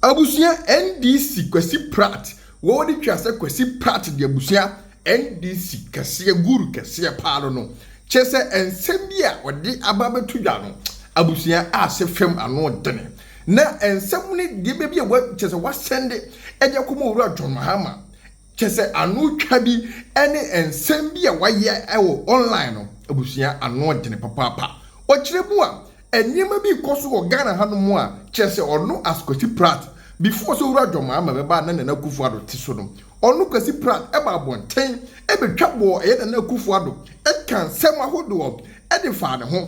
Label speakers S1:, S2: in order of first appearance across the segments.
S1: Abusua NDC Kwasi Pratt wɔde twa sɛ Kwasi Pratt de abusua NDC kɛseɛ guru kɛseɛ paa no no kyerɛ sɛ nsɛm bi a ɔde aba abɛto dwa no abusua a sɛ fam ano dene na nsɛm no deɛ baabi a kyerɛ sɛ wasɛnde ɛde akɔma owura John Mahama Kyerɛ sɛ ano twa bi ne nsɛm bi a wɔayɛ wɔ online no, abusua, ano dene papaapa. Ɔkyerɛ mu a, nneɛma bi rekɔ so wɔ Ghana hanom a, kyerɛ sɛ ɔno as Kwasi Pratt, before sɛ Owura John Mahama bɛba a na Nana Akufo-Addo te so no, ɔno Kwasi Pratt ba abɔnten bɛtwa bɔɔ ɛyɛ Nana Akufo-Addo, ɛkaa nsɛm ahodoɔ de faa ne ho.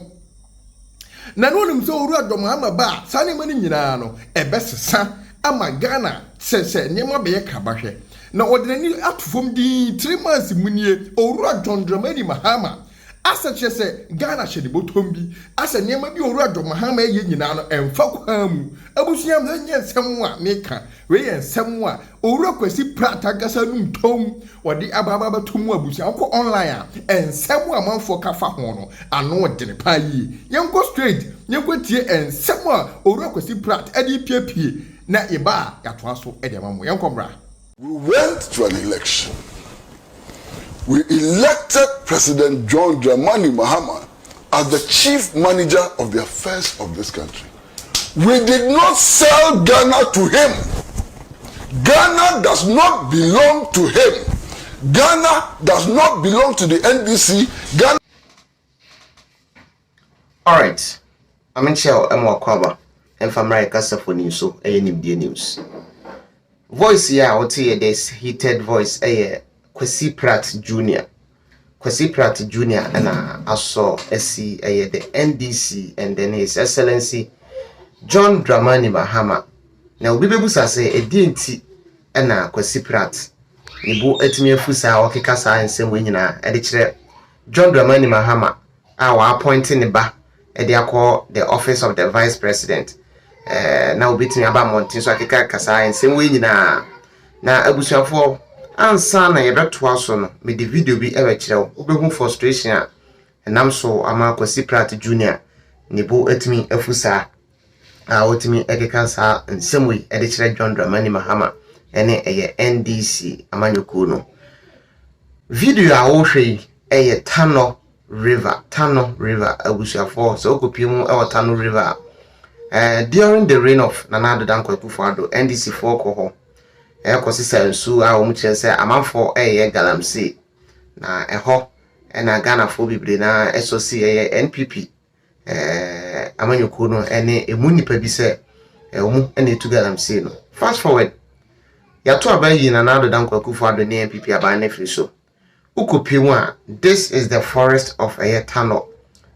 S1: Na na onim sɛ owura dɔm ama ba a saa nneɛma no nyinaa no ɛbɛsesa ama Ghana sɛ sɛ nneɛma bɛyɛ kraba hwɛ. Na ɔde n'ani ato fam dinn three months mu nie owura John Dramani Mahama asɛ kyerɛ sɛ Ghana hyɛ ne bɔtɔm bi asɛ nneɛma bi a owura John Mahama ɛyɛ nyinaa no ɛmfa kwan mu. Abusua me nyɛ nsɛm a meka wei yɛ nsɛm a Owura Kwasi Pratt ankasa num tɔmm, ɔde ababa bɛto mu abusua. Wokɔ online a, nsɛm a amanfoɔ ka fa ho no, ano dene paa yie. Yɛnkɔ straight, yɛnkɔtie nsɛm a Owura Kwasi Pratt de repiapie na yɛba a yɛatoa so de ama mo. Yɛnkɔ mmra. We went
S2: to an election. We elected President John Dramani Mahama as the chief manager of the affairs of this country. We did not sell Ghana to him, Ghana does not belong to him, Ghana does not belong to the NDC, Ghana.
S3: Alright, Ame Kyɛw ɛma wakɔ aba ɛmfa mmra yɛ kasafo ni nso ɛyɛ nimdeɛ news. Voice yɛ a wote yɛ this heated voice ɛyɛ Kwasi Pratt Junior Kwasi Pratt Junior na asɔ asi ɛyɛ the NDC and then His Excellency John Dramani Mahama. Na obi bɛbusa sɛ ɛdeɛ nti na Kwasi Pratt ne bo atumi afu saa ɔkeka saa nsɛm wei nyinaa ɛde kyerɛ John Dramani Mahama a wɔapɔinte ne ba de akɔ the office of the vice president ɛɛ na obetumi aba mmɔnten so akeka saa nsɛm wei nyinaa na abusuafoɔ ansa na yɛbɛtoa so no mede video bi ɛbɛkyerɛ wo wobɛhu frustration a ɛnam so ama Kwasi Pratt Junior ne bo atumi afu saa a ɔtumi keka saa nsɛm yi de kyerɛ John Dramani Mahama ne ɛyɛ NDC amanyɔkuo no. Video a wohwɛ yi yɛ Tanɔ River, Tanɔ River abusuafoɔ sɛ wokɔpie mu wɔ Tanɔ River a, eh, during the reign of Nana Addo Dankwa Akufo-Addo, NDCfoɔ kɔ hɔ ɛkɔsesa nsuo a wɔn kyerɛ sɛ amanfoɔ ɛyɛ galamsey na ɛhɔ na Ghanafoɔ bebree na ɛsɔ si ɛyɛ NPP amanyɔkuo no ne ɛmu nnipa bi sɛ wɔn na ɛretu galamsey no. Fast forward, yɛato aba ayi Nana Addo Dankwa Akufo-Addo ne NPP aban no afiri so. Wokɔpie mu a, this is the forest of ɛyɛ Tanɔ,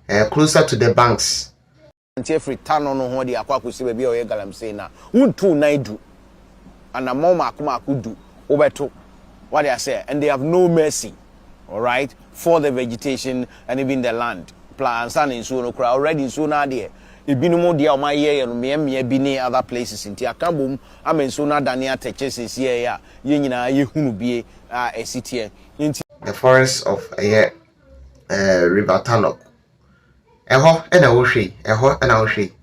S3: eh, closer to the banks. Nante afiri
S4: Tanɔ nohoa de akɔ akɔsi baabi a wɔyɛ galamsey no a, wontu nnan du. anammɔn mmaako mmaako du wobɛto wate aseɛ and they have no mercy alright for the vegetation and even the land pla ansa na nsuo no koraa already nsuo no adeɛ ebinom deɛ a wɔn ayɛ yɛ no mmea mmea bi ne other places nti aka bom ama nsuo no adane atɛkyɛ sɛsi ɛyɛ a yɛn nyinaa yɛhunu bie a ɛsi teɛ nti The forests of
S3: ɛyɛ ɛɛ river Talok Ɛhɔ na wohwɛ yi, ɛhɔ na wohwɛ yi.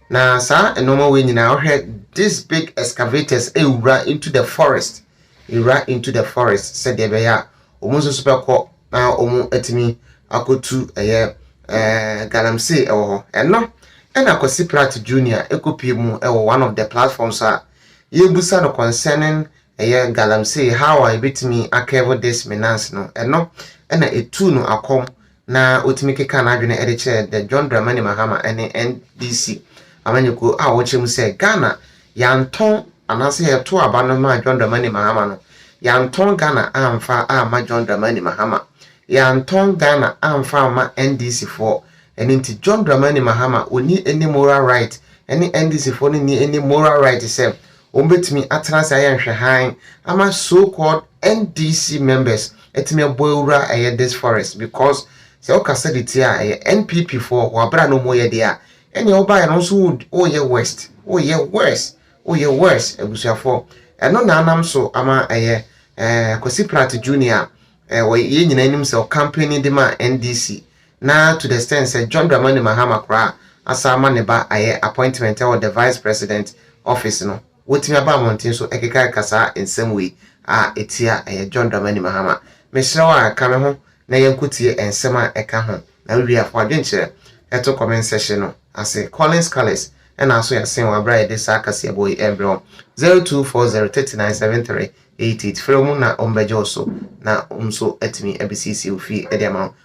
S3: Na saa nnoɔma wei nyinaa wohwɛ this big excavators ɛwura into the forest ɛwura into the forest sɛdeɛ ɛbɛyɛ a wɔn nso so bɛkɔ na wɔn atumi akɔtu ɛyɛ ɛɛ galamsey ɛwɔ hɔ ɛno ɛna Kwasi Pratt Junior ɛkɔpie mu ɛwɔ one of the platforms a yɛbusa no concerning ɛyɛ galamsey how a yɛbɛtumi akɛvo this menance no ɛno ɛna ɛtuu no akɔm na ɔtumi kekaa n'adwene de kyerɛɛ The John Dramani Mahama ne NDC amanyɔkuo a wɔkyerɛ mu sɛ Ghana yɛantɔn anaasɛ yɛto aba no maa John Dramani Mahama no, yɛantɔn Ghana amfa amma John Dramani Mahama, yɛantɔn Ghana amfa amma NDCfoɔ, ɛno nti John Dramani Mahama ɔnni any moral right ɛne NDCfoɔ no nni any moral right sɛ Wɔbɛtumi atena ase ayɛ nhwɛhan ama so called NDC members atumi abɔ awura a ɛyɛ this forest because sɛ wokasa de tie a ɛyɛ NPP foɔ wɔ aberɛ a na wɔyɛ deɛ a ɛnneɛ wobaeɛ no nso woyɛ worst woyɛ worse woyɛ worse abusuafoɔ ɛno na anam so ama ɛyɛ ɛɛ Kwasi Pratt Junior a ɛɛ yɛn nyinaa nim sɛ ɔkampeni de ma NDC na to the extent sɛ John Dramani Mahama koraa asan ama ne ba ayɛ appointment wɔ the Vice President office no, wotumi aba mmɔnten so kekakeka saa nsɛm wei a etia ɛyɛ John Dramani Mahama. Mesrɛ wo ara, ka me ho na yɛnkɔtie nsɛm a ɛka ho, na wowie a fa w'adwenkyerɛ to comment section no ase. Collins Cullis na aso yɛasen wo bere a yɛde saa kaseɛbɔ yi rebrɛ wo. Zero two four zero thirty nine seven three eight eight, frɛ wɔn na wɔbɛgye wo so na wɔn nso atumi abesiesie wo fie de ama wo.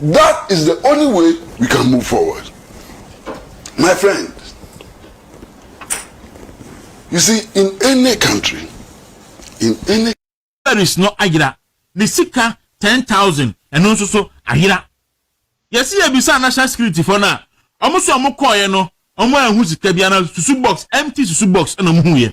S2: That is the only way we can move forward. My friend, you see, in any country, in any
S5: Paris no ayera ne sika ten thousand ɛno nso so ayera yɛsi yɛ bisa national security fo no a wɔn so wɔn kɔɔɛ no wɔn anhu sika bi ana susu box empty susu box ɛna wɔn hu yɛ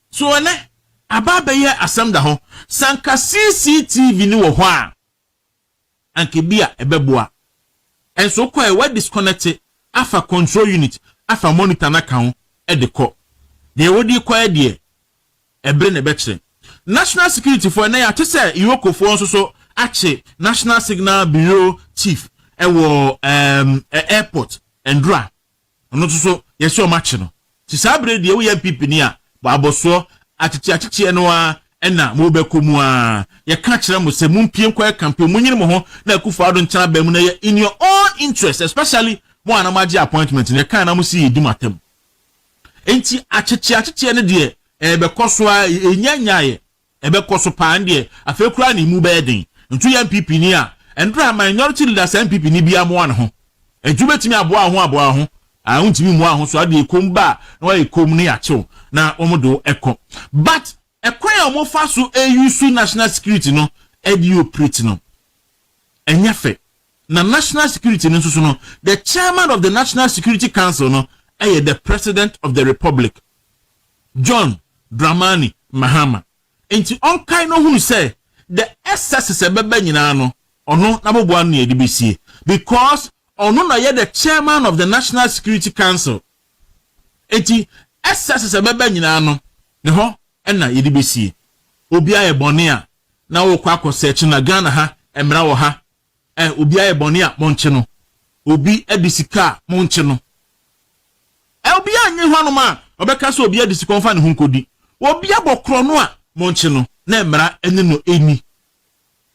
S5: So ɛnnɛ aba abɛyɛ asɛm da hɔ? Sɛ anka CCTV no wɔ hɔ a, anka ebia ɛbɛboa. Ɛnso wokɔ a, wa disconnect afa control unit, afa monitor no aka ho de kɔ. Deɛ wode rekɔ yɛ deɛ, ɛbere na ɛbɛkyerɛ. National Security foɔ, ɛnnɛ yɛate sɛ Iroko foɔ nso so akye National Signal Bureau Chief wɔ ɛɛm, Airport, Ndora, Ɔno nso so yɛse ɔmakye no. Nti saa bere yi deɛ woyɛ NPP ni a, bɔ abɔsoɔ, akyekye akyekyeɛ no ara ɛna mobɛkɔ mu ara. Yɛka kyerɛ mo sɛ mompie nkɔyɛ campaign, monyini mo ho na Akufo Addo nkyɛn aba mu na ɛyɛ in your own interest, especially mo a na moagye appointment no, yɛkae na mose yɛdi mo atam. Nti akyekye akyekyeɛ no deɛ ɛrebɛkɔ so ara, ɛnya nyaeɛ. Ɛbɛkɔ so paa ndeɛ afei koraa na emu bɛyɛ den nto yɛ NPP ni a ɛndra minority leader saa NPP ni biaa moa ne ho adwu bɛtumi aboa wo ho aboa wo ho aa wontumi mmua wo ho so adeɛ komm ba a na wayɛ komm ne yakyew na wɔn de wo ɛkɔ but ɛkwan a wɔn fa so use national security no ɛde operate no ɛnyɛ fɛ na national security no nso so no the chairman of the national security council no ɛyɛ the president of the republic John Dramani Mahama nti ɔnkae na ɔhunu sɛ the excesses a ɛbɛba nyinaa no ɔno n'aboboa ano na yɛde bɛsie because ɔno na ɔyɛ the chairman of the National Security Council nti excesses a ɛbɛba nyinaa no ne hɔ na yɛde bɛsie. Obi ayɛ bɔne a na wokɔ akɔ search na Ghana ha mmara wɔ ha Ɛ, obi ayɛ bɔne a, monkye no. Obi adi sika a, monkye no. Ɛ, obi annye hɔnom a, wɔbɛka sɛ obi adi sika, wɔmfa ne ho nkɔdi. Obi abɔ korɔno a, monkye no, na mmara ne no nni.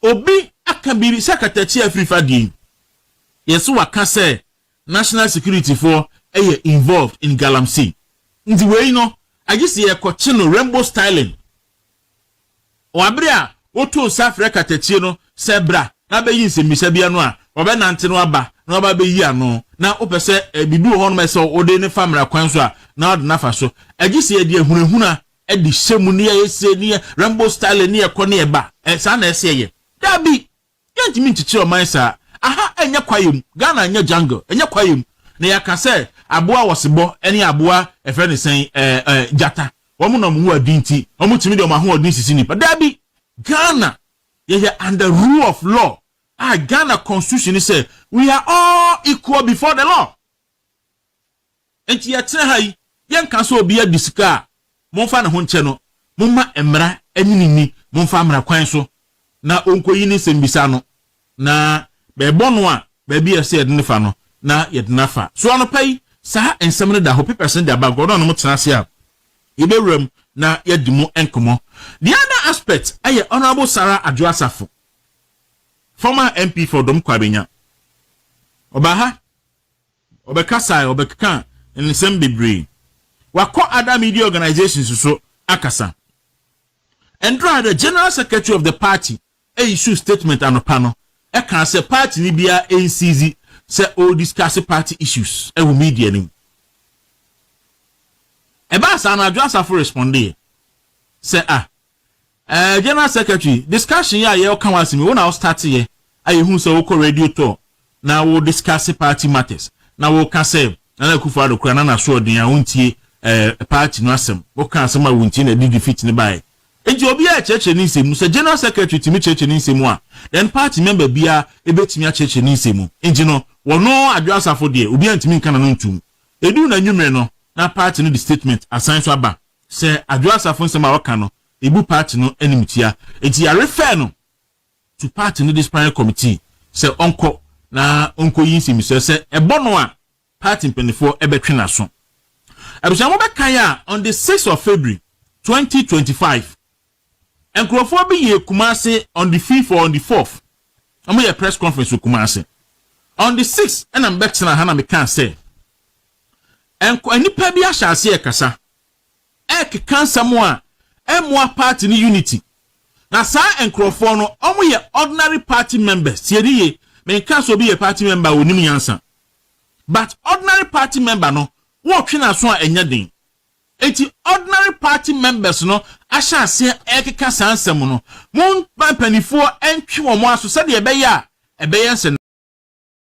S5: Obi aka biribi sɛ katakyie a afiri fa deɛ yi, yɛ sɛ waka sɛ National Security foɔ yɛ involved in Galamsey. Nti wei no, agye sɛ yɛkɔkye no Rainbow Styling Wɔ bere a woto nsa frɛ katakyie no sɛ bra na bɛyi nsɛmmisa bi ano a, wɔbɛnante no aba na wɔaba abɛyi ano. Na wopɛ sɛ biribi wɔ hɔnom a ɛsɛ sɛ wode no fa mmara kwan so a, na wode no afa so. Gye sɛ yɛde ahunahuna de hyɛ mu, ne yɛyɛ sei, ne yɛ Rambo style, ne yɛkɔ ne yɛba. Saa na ɛsɛ sɛ yɛyɛ? Dabi! Yɛntumi nkyekyere ɔman saa. Aha ɛnyɛ kwaeɛ mu. Ghana ɛnyɛ jungle. Ɛnyɛ kwaeɛ mu. Na yɛaka sɛ aboa wɔsebɔ ɛne aboa ɛfrɛ no sɛn ɛɛ ɛɛ gyata wɔn na wɔn ho adi nti wɔn tumi de wɔn ahoɔden sisi nnipa. Daabi. Ghana yɛyɛ under rule of law a Ghana constitution ne sɛ we are all equal before the law. Enti yɛtena ha yi, yɛnka sɛ obi adi sika a, momfa ne ho nkyɛ no, momma mmara nyini nni, momfa mmara kwan so na ɔnkɔyi ne nsɛmmisa no, na bɛrebɔ no a, baabi a ɛsɛ sɛ yɛde no fa no, na yɛde no afa. So anɔpa yi, saa nsɛm no da hɔ? Papers no da back hɔ, na ɔne mo tena ase a, yɛbɛwura mu na yɛadi mu nkɔmmɔ. The other aspect yɛ Honourable Sarah Adwoa Asafo, former MP for Dɔm Kwabenya. Ɔbaa ha. Ɔbɛkasae, ɔbɛkeka nsɛm bebree. Wakɔ ada media organisations so akasa. Ɛnde ara the General Secretary of the party issued statement anɔpa no kaa sɛ partyni biara nsiizi sɛ ɔrediscuss party issues wɔ media no mu. Ɛbaa saa no Adwo Asafo respondee sɛ, Ah, Eh General Secretary, discussion yi a yɛ ɔka ho asem yi, wo na wo start yɛ, a yɛ hu sɛ wo kɔ radio tour na wo discuss party matters, na wo ka sɛ Nana Akufo Addo koraa na n'asoɔden a ontie eh party no asem, wo ka asem a wontie na ɛde defeat no baeɛ. Nti obiara kyerɛkyerɛ ne nsem mu, sɛ General Secretary tumi kyerɛkyerɛ ne nsem mu a, then party member biara ɛbɛtumi akyerɛkyerɛ ne nsem mu. Nti no, wɔno Adwo Asafo deɛ, obiara ntumi nka n'ano ntom. Ɛduru n'anwumerɛ no, na party no de statement asan nso aba, sɛ Adwo Asafo nsem a ɔka no, ebu party no animtia enti yɛ refer no to party no disciplinary committee sɛ ɔnkɔ na ɔnkɔ yi nsɛmisua sɛ ɛbɔ no a party mpaninfoɔ bɛtwe n'aso. Abusua mo bɛ kan a on the six of February twenty twenty five nkurɔfoɔ bi yɛɛ Kumasi on the fifth or on the fourth wɔn yɛ press conference wɔ Kumasi on the six ɛna mbɛ tena ha na mekaa sɛ nnipa bi ahyɛ aseɛ kasa ɛrekeka nsɛm a ɛmmoa party no unity. Na saa nkorɔfoɔ no wɔn yɛ ordinary party members, tie ni yie, me nka sɛ obi yɛ party member a ɔnim nyansa, but ordinary party member no wɔretwe n'aso a ɛnyɛ den. Enti ordinary party members no ahyɛ aseɛ ɛrekeka saa nsɛm no, mo mma mpaninfoɔ ntwe wɔn aso sɛdeɛ ɛbɛyɛ a ɛbɛyɛ nsɛ.